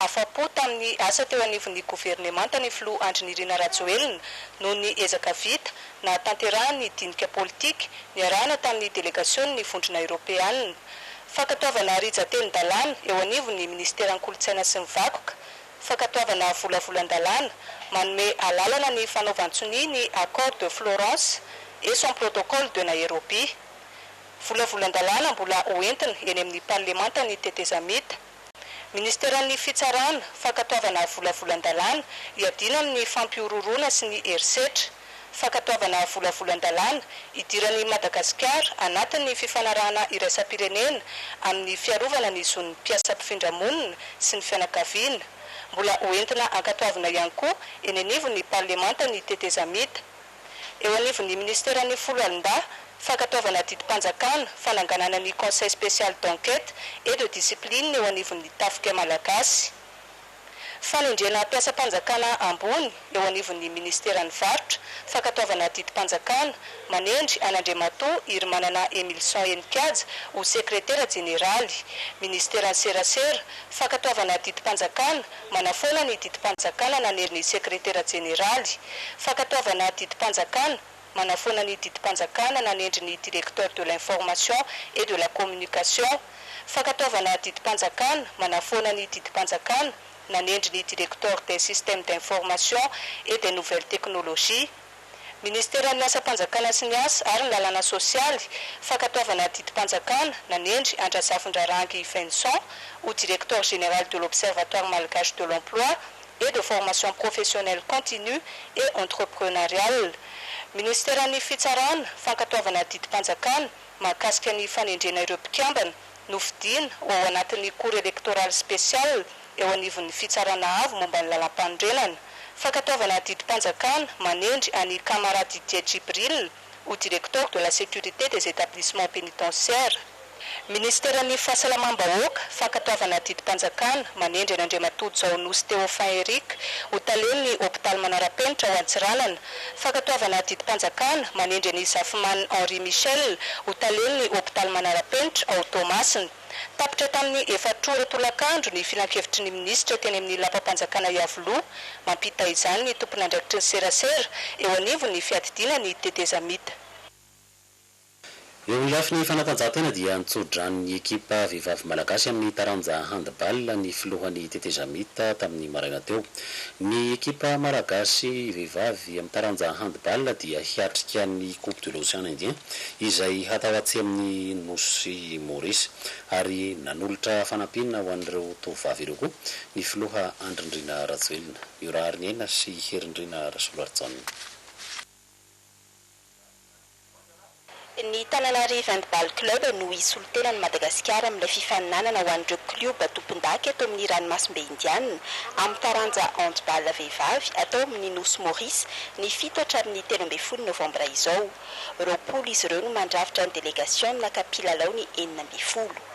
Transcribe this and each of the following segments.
Afa-po tamin'ny asa teo anivon'ny governemanta ny filoha Andry Nirina Rajoelina noho ny ezaka vita nahatanterahany ny dinika politika niarahana tamin'ny delegasionin'ny Vondrona Eoropeanina. Fankatoavana rijantelin-dalàna eo anivon'ny Ministeran'ny Kolontsaina sy ny Vakoka, fankatoavana volavolan-dalàna manome alalana ny fanaovan-tsonia ny Accord de Florence et son Protocole de Nairobi. Volavolan-dalàna mbola hoentina eny amin'ny Parlemanta ny tetezamita. Ministeran'ny Fitsarana, Fankatoavana Volavolan-dalàna hiadiana amin'ny fampihorohoroana sy ny herisetra, Fankatoavana Volavolan-dalàna hidiran'i Madagasikara anatin'ny fifanarahana iraisam-pirenena amin'ny fiarovana ny zon'ny mpiasa mpifindra monina sy ny fianakaviana. Mbola hoentina ankatoavina ihany koa eny anivon'ny Parlemanta ny tetezamita. eo anivon'ny Minisiteran'ny Foloalindahy, Fankatoavana Adidim-panjakana, fananganana ny Conseil Spécial d'Enquête et de Discipline eo anivon'ny Tafika Malagasy, fanendrena mpiasam-panjakana ambony eo anivon'ny Minisiteran'ny Varotra, Fankatoavana Adidim-panjakana, manendry an'Andriamatoa Hirimanana Emilson Henikaja ho Sekretera Jeneraly, Minisiteran'ny Serasera, Fankatoavana Adidim-panjakana, Manafoana ny didim-panjakana nanery ny sekretera jeneraly. Fankatoavana didim-panjakana, Manafoana ny didim-panjakana nanendry ny Directeur de l'Information et de la Communication. Fankatoavana didim-panjakana, Manafoana ny didim-panjakana nanendry ny Directeur des Systèmes d'Information et des Nouvelles Technologies. Ministeran'ny Asam-panjakana sy ny Asa ary ny Lalàna Sosialy, fankatoavana didim-panjakana, nanendry an-dRazafindrarangy Vincent ho Directeur Général de l'Observatoire Malgache de l'Emploi et de Formation Professionnelle Continue et Entrepreneuriale. Ministeran'ny Fitsarana, fankatoavana didim-panjakana mahakasika ny fanendrena ireo mpikambana nofidiana ho ao anatin'ny Cour Electorale Spéciale, eo anivon'ny Fitsarana Avo momba ny Lalàmpanorenana, fankatoavana didim-panjakana manendry an'i Kamara Didier Djibril ho Directeur de la Sécurité des Établissements Pénitentiaires. Minisiteran'ny Fahasalamam-bahoaka, fankatoavana didim-panjakana manendry an'Andriamatoa Jaonosy Théophin Eric ho Talen'ny Hopitaly Manara-penitra ao Antsiranana, fankatoavana didim-panjakana manendry an'i Zafimaniny Henri Michel ho Talen'ny Hopitaly Manara-penitra ao Toamasina. Tapitra tamin'ny efatra ora tolakandro ny filankevitry ny minisitra teny amin'ny lapam-panjakana Iavoloha mampita izany ny tompon'andraikitry ny serasera eo anivon'ny fiadidiana ny tetezamita. Eo amin'ny lafiny fanatanjahantena dia nitso-drano ny ekipa vehivavy malagasy amin'ny taranja handball ny filohan'ny tetezamita tamin'ny maraina teo. Ny ekipa malagasy vehivavy. dia ny taranja handball dia hiatrika ny Coupe de l'Ocean Indien izay hatao atsy amin'ny nosy Maurice ary nanolotra fanampiana ho an'ireo tovovavy ireo koa ny filoha Andry Ndrina Rajoelina, Miora Hariniaina sy Herindrina Rasolarijaona. Ny Tananarive Handball Club no hisolo tena an'i Madagasikara amin'ilay fifaninanana ho an'ireo klioba tompondaka eto amin'ny ranomasimbe Indianina amin'ny taranja Handball vehivavy atao amin'ny Nosy Maurice ny fito hatramin'ny telo ambin'ny folo novambra izao. Roapolo izy ireo no mandrafitra ny delegasiona ka mpilalao ny enina ambin'ny folo.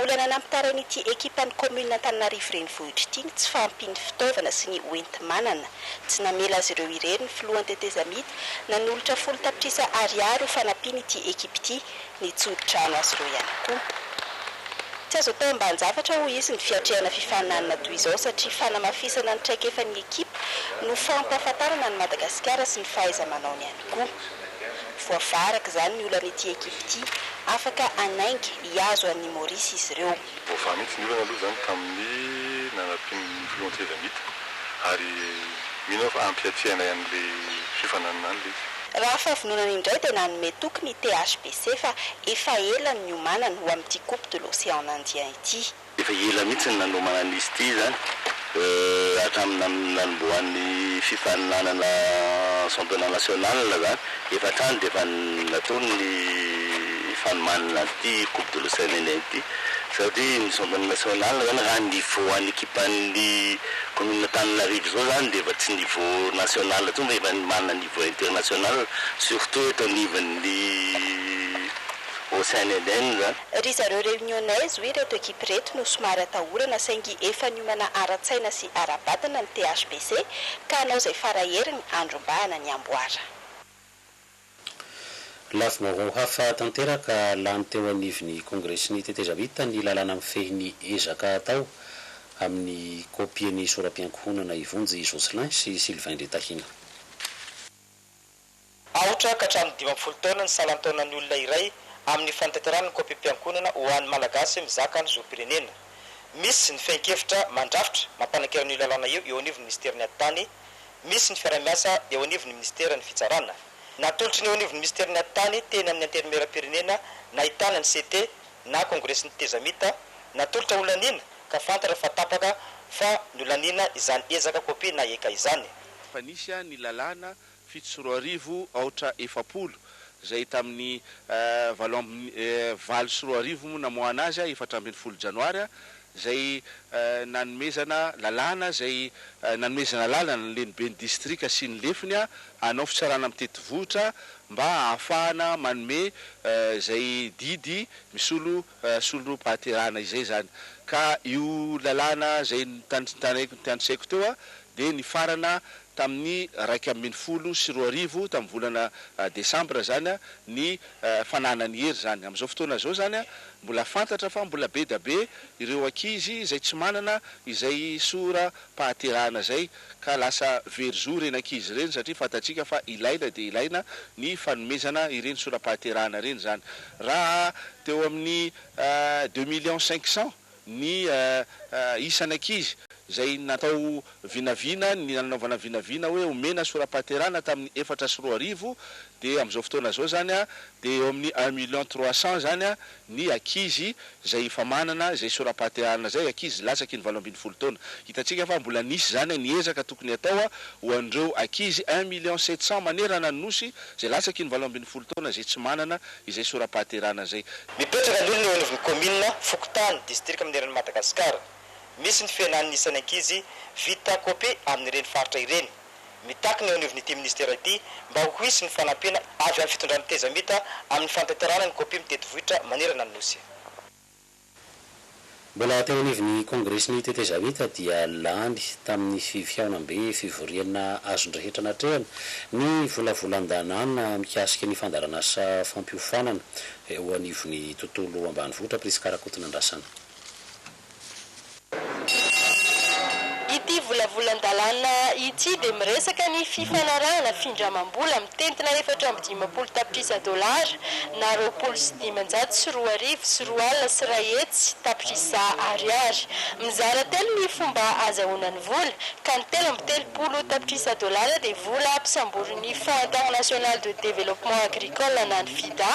Olana nampitarain'ity ekipan'ny kaominina Antananarivo Renivohitra ity ny tsy fahampian'ny fitaovana sy ny hoenti-manana. Tsy namela azy ireo irery ny filohan'ny tetezamita nanolotra folo tapitrisa Ariary ho fanampiana ity ekipa ity. Nitsodi-drano azy ireo ihany koa. Tsy azo atao ambanin-javatra hoy izy ny fiatrehana fifaninanana toy izao satria fanamafisana ny traikefan'ny ekipa no fampahafantarana an'i Madagasikara sy ny fahaiza-manaony ihany. tokoa. Voavaha araka izany ny olan'ity ekipa ity, afaka hanainga hihazo an'i Maurice izy ireo. Voavaha mihitsy ny olana aloha izany tamin'ny nanampian'ny filohan'ny seza an'ity ary mino aho fa hampiatrehana ihany ilay fiofananana any ilay izy. Raha fahavononana indray dia nanome toky ny THBC fa efa ela ny niomanany ho amin'ity Coupe de l'Océan Indien ity. Efa ela mihitsy ny nanomana an'izy ity izany, hatramin'ny nanombohan'ny fifaninanana championnat national izany, efa hatrany dia efa natolony ny fanomanana an'ity coupe de l'OCNN ity, satria ny championnat national izany raha ny niveau an'ny ekipan'ny commune Antananarivo izao izany dia efa tsy niveau national intsony fa efa manana niveau international, surtout eto anivon'ny OCNN izany. Ry zareo Reunionnaise hoy ireto ekipa ireto no somary atahorana saingy efa niomana ara-tsaina sy ara-batana ny THBC ka hanao izay fara heriny handrombahana ny amboara. Lafim-baovao hafa tanteraka lany teo anivon'ny Kongresin'ny Tetezamita ny lalàna mifehy ny ezaka atao amin'ny kopie ny sora-piankohonana i Vonjy Jocelyn sy Sylvain Ndritahina. Aotra ka hatramin'ny dimy ambin'ny folo taona ny salan-taonan'ny olona iray amin'ny fanatanterahana ny kaompim-piankohonana ho an'ny Malagasy mizaka ny zom-pirenena. Misy ny fehin-kevitra mandrafitra mampanankeran'io lalàna io eo anivon'ny Minisiteran'ny Atitany. Misy ny fiaraha-miasa eo anivon'ny Minisiteran'ny Fitsarana. Natolotry ny eo anivon'ny Minisiteran'ny Atitany teny amin'ny Antenimieram-pirenena nahitana ny CT na Kongresin'ny Tetezamita, natolotra ho laniana ka fantatra fa tapaka fa nolaniana izany ezaka kopia na eka izany. Fa nisy ny lalàna fito sy roa arivo, aotra efapolo, izay tamin'ny valo ambin'ny valo sy roa arivo moa namoahana azy, efatra ambin'ny folo janoary, izay nanomezana lalàna izay nanomezana lalana ny leniben'ny distrika sy ny lefiny hanao fitsarana mitety vohotra mba hahafahana manome izay didy misolo solom-pahaterahana izay izany. Ka io lalàna izay notantinaiko notanisaiko teo dia nifarana tamin'ny iraika ambin'ny folo sy roa arivo, tamin'ny volana desambra izany ny fananany hery izany. Amin'izao fotoana izao izany mbola fantatra fa mbola be dia be ireo ankizy izay tsy manana izay soram-pahaterahana izay. ka lasa very zo ireny ankizy ireny satria fantatsika fa ilaina dia ilaina ny fanomezana ireny sora-pahaterahana ireny izany. Raha teo amin'ny deux millions cinq cents ny isan'ankizy izay natao vinavina, ny nanaovana vinavina hoe omena sora-pahaterahana tamin'ny efatra sy roa arivo dia amin'izao fotoana izao izany dia eo amin'ny un million trois cents izany ny ankizy izay efa manana izay sora-pahateharana izay, ankizy latsaky ny valo ambin'ny folo taona. Hitantsika fa mbola nisy izany ny ezaka tokony hatao ho an'ireo ankizy un million sept cent manerana ny Nosy izay latsaky ny valo ambin'ny folo taona izay tsy manana izay sora-pahateharana izay. Mipetraka aloha ny eo anivon'ny kaominina, fokontany, distrika manerana an'i Madagasikara. Misy ny fihenan'ny isan'ny ankizy vita kopia amin'ireny faritra ireny. Mitaky ny eo anivon'ity minisitera ity mba ho hisy ny fanampiana avy amin'ny fitondran'ny Tezamita amin'ny fantenterana ny kopia mitety vohitra manerana ny Nosy. Mbola teo anivon'ny kongresin'ny Tetezamita dia lany tamin'ny fihaonambe fivoriana azon'ny rehetra natrehana ny volavolan-danàna mikasika ny fandaharan'asa fampiofanana eo anivon'ny tontolo ambanivohitra Prisca Rakotonandrasana. Ity volavolan-dalàna ity dia miresaka ny fifanarahana findramam-bola mitentina efatra amby dimampolo tapitrisa dolara na roapolo sy dimanjato sy roa arivo sy roa alina sy iray hetsy tapitrisa ariary. Mizara telo ny fomba azahoana ny vola, ka ny telo amby telopolo tapitrisa dolara dia vola ampisamborin'ny Fonds International de Développement Agricole na ny FIDA,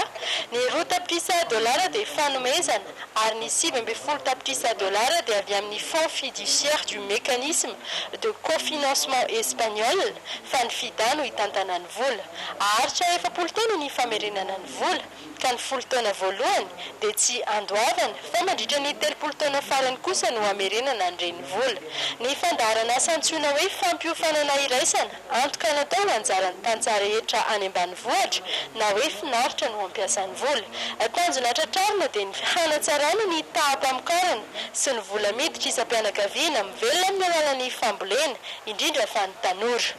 ny roa tapitrisa dolara dia fanomezana, ary ny sivy ambin'ny folo tapitrisa dolara dia avy amin'ny Fonds Fiduciaire du Mécanisme de Cofinancement Espagnol, fa ny Fida no hitantana ny vola. Haharitra efapolo taona ny famerenana ny vola, ka ny folo taona voalohany dia tsy andoavana, fa mandritra ny telopolo taona farany kosa no hamerenana ny renivola. Ny fandaharanasa antsoina hoe fampiofanana iraisana. Antoka natao ho anjaran'ny tantsaha rehetra any ambanivohitra na hoe finaritra no hampiasa ny vola. Tanjona tratrarina dia ny hanatsarana ny taham-pamokarana sy ny vola miditra isam-pianakaviana mivelona amin'ny alalan'ny fambolena, indrindra fa ny tanora.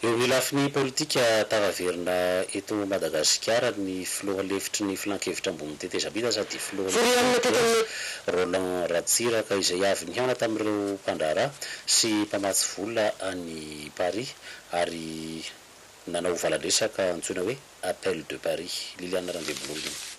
Eo amin'ny lafiny politika, tafaverina eto Madagasikara ny filoha lefitry ny filankevitra ambon'ny tetezamita sady filohan'ny Cogicos, Roland Ratsiraka, izay avy nihaona tamin'ireo mpandraharaha sy mpamatsy vola any Paris ary nanao valan-dresaka antsoina hoe Appel de Paris. Liliane Randriambololona.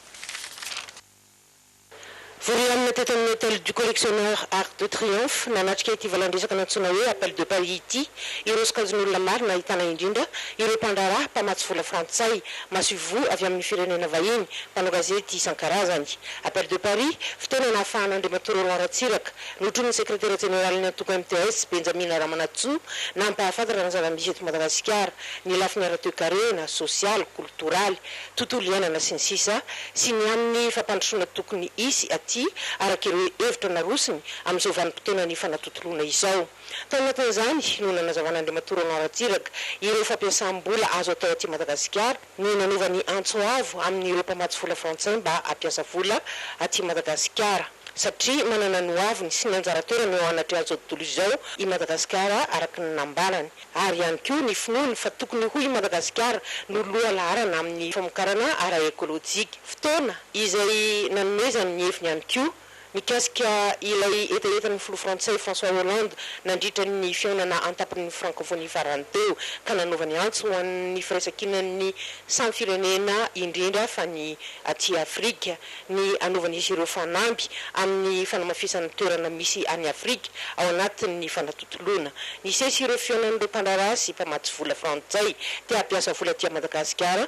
Vorianina teto amin'ny Hôtel du Collectionneur Arc de Triomphe nanatrika ity valan-dresaka nantsoina hoe Appel de Paris ity ireo sokajin'olona maro nahitana indrindra ireo mpandraharaha mpamatsy vola frantsay masoivoho avy amin'ny firenena vahiny, mpanao gazety isan-karazany. Appel de Paris, fotoana nahafahan'Andriamatoa Roland Ratsiraka, Notronin'ny Sekretera Jeneralin'ny Antoko MTS, Benjamina Ramanantsoa, nampahafantatra ny zava-misy eto Madagasikara, ny lafiny ara-toekarena, sosialy, kolotoraly, tontolo iainana sy ny sisa sy ny amin'ny fampandrosoana tokony hisy aty araka ireo hevitra narosony amin'izao vanim-potoana nifanatontoloana izao. Tao anatin'izany no nanazavan'Andriamatoa Roland Ratsiraka ireo fampiasam-bola azo atao aty Madagasikara, ny nanova ny antso avo amin'ireo mpamatsy vola frantsay mba hampiasa vola aty Madagasikara satria manana ny hoaviny sy ny anjara toerany eo anatrehan'izao tontolo izao i Madagasikara araka ny nambarany ary ihany koa ny finoany fa tokony ho i Madagasikara no loha laharana amin'ny famokarana ara-ekolojika fotoana izay nanomezany ny heviny ihany koa Mikasika ilay hetahetan'ny filoha frantsay François Hollande nandritra ny fihaonana an-tampon'ny Frankofonia farany teo ka nanaovany antso ho an'ny firaisankinan'ny samy firenena indrindra fa ny aty Afrika ny hanaovan'izy ireo fanamby amin'ny fanamafisana toerana misy an'i Afrika ao anatin'ny fanatontoloana. Nisesy ireo fihaonan'ireo mpandraharaha sy mpamatsy vola frantsay te-hampiasa vola aty Madagasikara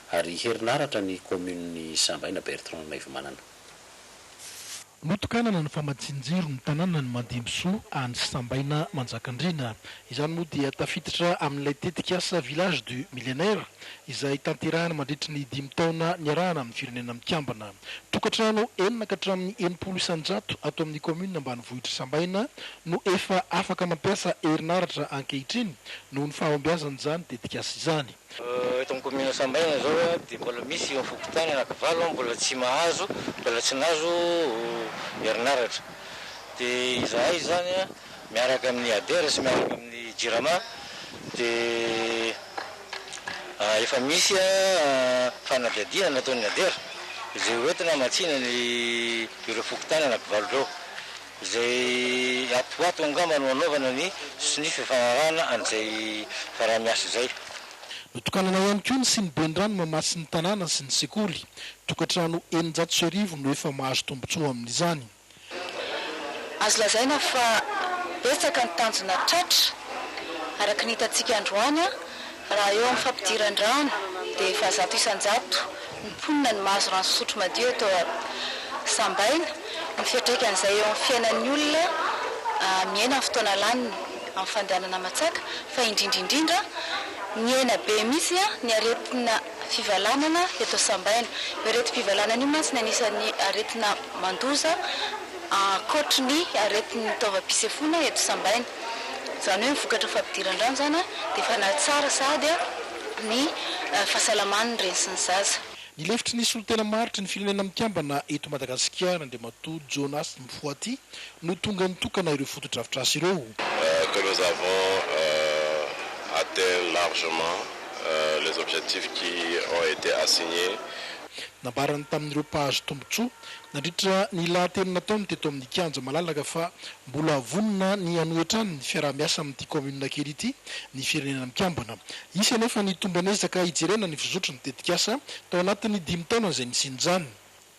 ary herinaratra ny kaominin'i Sambaina Bertrand Naivomanana. Notokanana ny famatsian-jiro ny tanànan'i Mandimbisoa any Sambaina Manjakandriana. Izany moa dia tafiditra amin'ilay tetikasa Village du Millénaire izay tanterahina mandritry ny dimy taona niarahana amin'ny Firenena Mikambana. Tokantrano enina ka hatramin'ny enimpolo isan-jato ato amin'ny kaominina ambanivohitr'i Sambaina no efa afaka mampiasa herinaratra ankehitriny noho ny fahombiazan'izany tetikasa izany. Eto amin'ny kaominina Ansambaina izao dia mbola misy eo amin'ny fokontany anakivalo mbola tsy mahazo, mbola tsy nahazo herinaratra. Dia izahay izany miaraka amin'ny Ader sy miaraka amin'ny Jirama dia efa misy fanadihadiana nataon'ny Ader izay hoentina hamatsiana ireo fokontany anakivalo ireo. Izay ato ato angamba no anaovana ny sonia fifanarahana an'izay fiaraha-miasa izay. Notokanana ihany koa ny siniben-drano mamatsy ny tanàna sy ny sekoly. Tokantrano eninjato sy arivo no efa mahazo tombontsoa amin'izany. Azo lazaina fa betsaka ny tanjona tratra, araka ny hitantsika androany, Raha eo amin'ny fampidiran-drano dia efa zato isan-jato ny mponina no mahazo rano fisotro madio eto Sambaina. Ny fiantraikan'izay eo amin'ny fiainan'ny olona miaina amin'ny fotoana laniny amin'ny fandehanana aman-tsaka fa indrindra indrindra nihena be mihitsy ny aretina fivalanana eto Sambaina. Io aretim-pivalanana io mantsy ny anisan'ny aretina mandoza ankoatry ny aretin'ny taovam-pisefoana eto Sambaina. Izany hoe ny vokatra fampidiran-drano izany dia efa nahatsara sahady ny fahasalaman'ny reny sy ny zaza. Ny lefitry ny solontena maritry ny Firenena Mikambana eto Madagasikara, Andriamatoa Jonas Mfoati, no tonga nitokana ireo fotodrafitrasa ireo. que nous avons atteint largement les objectifs qui ont été assigner. Nambarany tamin'ireo mpahazo tombontsoa Nandritra ny lahateny nataony teto amin'ny kianja malalaka fa mbola vonona ny hanohy hatrany ny fiaraha-miasa amin'ity kaominina kely ity ny Firenena Mikambana. Hisy anefa ny tomban'ezaka hijerena ny fizotry ny tetikasa tao anatin'ny dimy taona izay nisian'izany.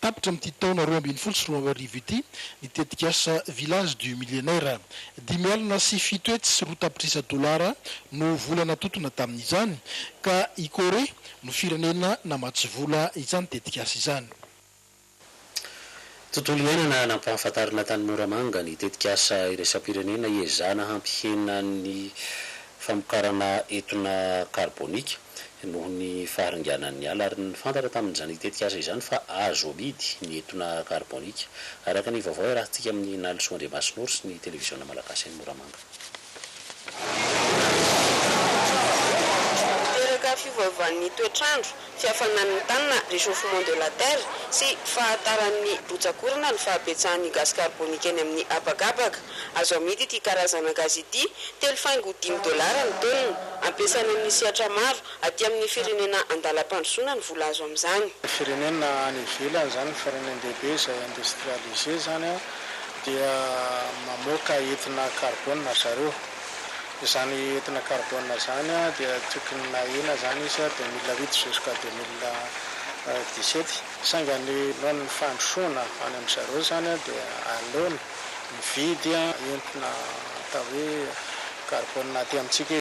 Tapitra amin'ity taona roa ambin'ny folo sy roa arivo ity ny tetikasa Village du Millénaire. Dimy alina sy fito hetsy sy roa tapitrisa dolara no vola natotona tamin'izany ka i Corée no firenena namatsy vola izany tetikasa izany. Tontolo iainana nampahafantarina tany Moramanga ny tetikasa iraisam-pirenena hiezahana hampihena ny famokarana etona karbonika noho ny faharinganan'ny ala ary nifantatra tamin'izany tetikasa izany fa azo amidy ny etona karbonika, araka ny vaovao iarahantsika amin'i Nalisoa Andriamasinoro sy ny televiziona malagasy any Moramanga. Miteraka fiovaovan'ny toetr'andro, fihafanan'ny tany na réchauffement de la terre, sy fahataran'ny rotsak'orana ny fahabetsahan'ny gazy karbônika eny amin'ny habakabaka. Azo amidy ity karazana gazy ity telo faingo dimy dolara ny taonina. Ampiasaina amin'ny sehatra maro aty amin'ny firenena an-dalam-pandrosoana ny vola azo amin'izany. Firenena any ivelany izany, ny firenendehibe izay industrialisé izany. dia mamoaka etona karbôna ry zareo. Izany etona karbôna izany dia tokony nahena izany izy 2008 jusqu'à 2017. Saingy ny noho ny fandrosoana any amin-dry zareo izany dia aleony mividy entona atao hoe karbôna aty amintsika izy.